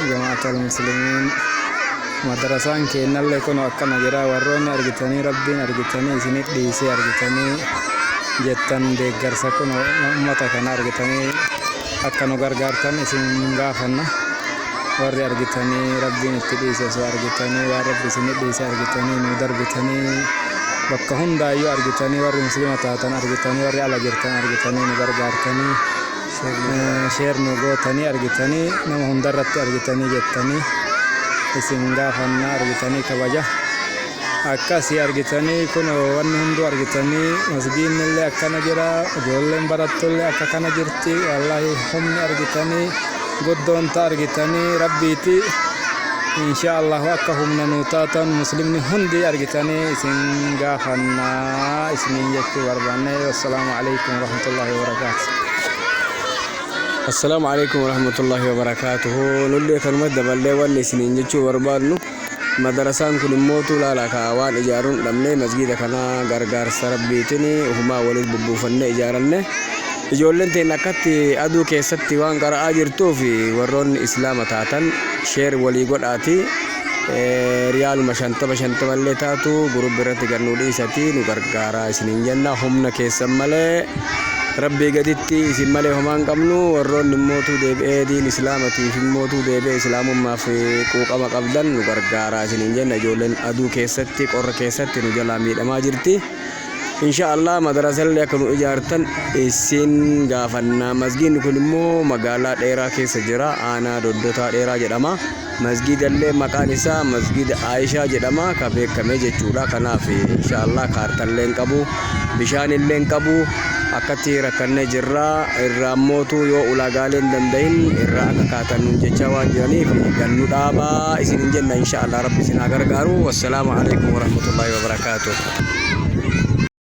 Jamaatal muslimiin madarasaan keennallee kun akkana jira warroonni argitanii rabbiin argitanii isinif dhiisee argitanii jettan deeggarsa kun ummata kana argitanii akka nu gargaartan isin gaafanna warri argitanii rabbiin itti dhiise osoo argitanii waan rabbi isinif dhiise argitanii nu darbitanii bakka hundaayyuu argitanii warri muslima taatan argitanii warri ala jirtan argitanii nu gargaartanii Sheer nu gootanii argitanii nama hundarratti argitanii jettanii isin gaafannaa argitanii kabaja akkasii argitanii kun wanni hunduu argitanii masgiinnillee akkana jira ijoolleen barattullee akka kana jirti wallaahi humni argitanii guddoonta argitanii rabbiiti insha allahu akka humna nuu taatan muslimni hundi argitanii isin gaafannaa isiniin jechuu barbaanne wassalaamu alaikum warahmatullahi wabarakatuh. Assalaamu alaikum warahmatullahi wabarakatuh. Nullee kanuma daballee wanni isiniin jechuu barbaadnu madarasaan kun immoo tuulaala kaa waan ijaaruun dhabnee masgiida kana gargaarsa rabbiitiin ufumaa waliin bubbuufannee ijaaranne. Ijoolleen teen akkatti aduu keessatti waan qara'aa jirtuuf warroonni islaama taatan sheer walii godhaati. riyaaluma shantama shantama illee taatu gurubbi irratti gad nu dhiisati nu gargaaraa isiniin jenna humna keessan malee rabbii gaditti isin malee homaan qabnu warroonni immootuu deebi'ee diin islaamatiif immootuu deebi'ee islaamummaaf quuqama qabdan nu gargaaraa isiniin jenna ijoolleen aduu keessatti qorra keessatti nu jalaa miidhamaa jirti. insha allah madarasallee akka nu ijaartan isin gaafanna masgiinni kun immoo magaalaa dheeraa keessa jira aanaa doddotaa dheeraa jedhama Masgiidallee maqaan isaa masgiida Aayishaa jedhama ka beekame jechuudha. Kanaaf inshaallah kaartallee hin qabu, bishaanillee hin qabu. Akkatti rakkannee jirra. Irraa mootuu yoo ulaagaalee hin danda'in irraa akka kaatan nuun jechaa waan jiraniif gannu dhaabaa isin hin jenna inshaallah rabbi isin haa gargaaru. Wassalaamu alaikum warahmatullahi wabarakaatuh.